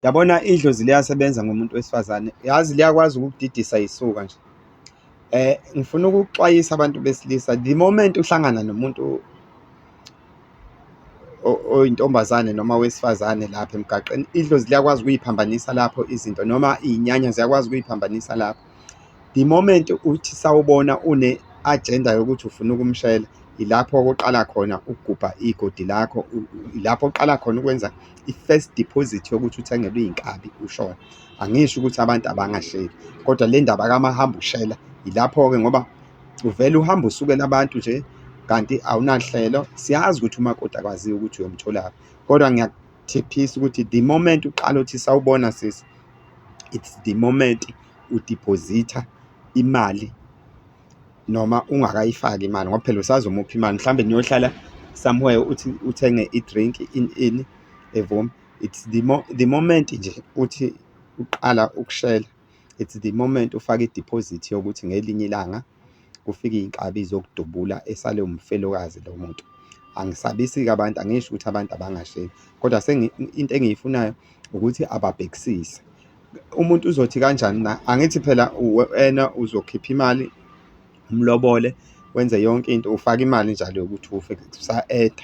Yabona idlozi liyasebenza ngomuntu wesifazane, yazi liyakwazi ukukudidisa yisuka nje. Eh ngifuna ukuxwayisa abantu besilisa the moment uhlangana nomuntu oyintombazane noma wesifazane lapha emgaqeni, idlozi liyakwazi ukuyiphambanisa lapho izinto noma iyinyanya ziyakwazi ukuyiphambanisa lapho. The moment uthi sawubona une-agenda yokuthi ufuna ukumshayela, ilapho okuqala khona ukugubha igodi lakho, ilapho oqala khona ukwenza i-first deposit yokuthi uthengelwe iy'nkabi ushona. Angisho ukuthi abantu abangasheli, kodwa le ndaba kamahamba ushela ilapho-ke ngoba uvele uhambe usukela abantu nje kanti awunanhlelo. Siyazi ukuthi umakoti akwaziyo ukuthi uyomtholaphi, kodwa Thephisa ukuthi the moment uqala uthi sawubona sisi it's the moment udeposita imali noma ungakayifaki imali ngoba phela usazomupha imali mhlawumbe niyohlala somewhere uthi uthenge i-drink in in evum it's the, mo the moment nje uthi uqala ukushela it's the moment ufake i-deposit yokuthi ngelinye ilanga kufike iy'nkabi zokudubula esale umfelokazi lo muntu. Angisabisi-ke abantu, angisho ukuthi abantu abangasheki, kodwa into engiyifunayo ukuthi ababhekisise. Umuntu uzothi kanjani na? Angithi phela wena uzokhipha imali, umlobole, wenze yonke into, ufake imali njalo yokuthi ufe, kusa-add-a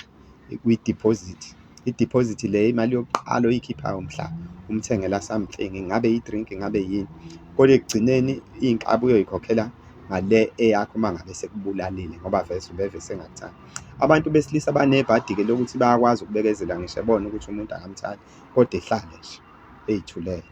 kwi-deposit. I-deposit le imali yokuqala oyikhiphayo mhla umthengela something, ngabe i-drink ngabe yini, kodwa ekugcineni iy'nkabi uyoyikhokhela ngale eyakho uma ngabe sekubulalile ngoba vese ubeve sengakuthandi. Abantu besilisa banebhadi-ke lokuthi bayakwazi ukubekezela ngisho ebona ukuthi umuntu akamthandi kodwa ehlale nje ey'thulele.